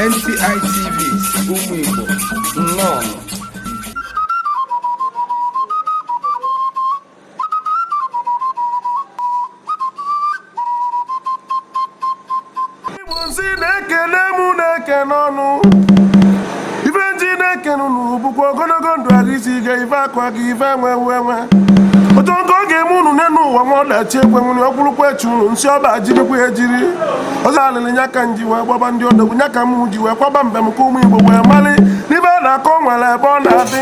NTI TV ụmụ Igbo nnọọ Igbo nsị na ekene mụ na-ekene unu ife nji na-ekene unu ọ bụkwa ogologo ndụ arụ isi ike ife akụ akụ ife enwe enwe enwe otu nke ọ ga-eme unu n'elu ụwa nwa ọdachi ekwe nwere ọ bụrụkwa echi unu nsị ọba jirikwa ejiri ọzọ alịlị nya ka nji wee gbaba ndị odogwu nya ka m ji wee kwaba mbem ka ụmụ igbo wee mali n'ife a na-akọ nwere ebe ọ na-adị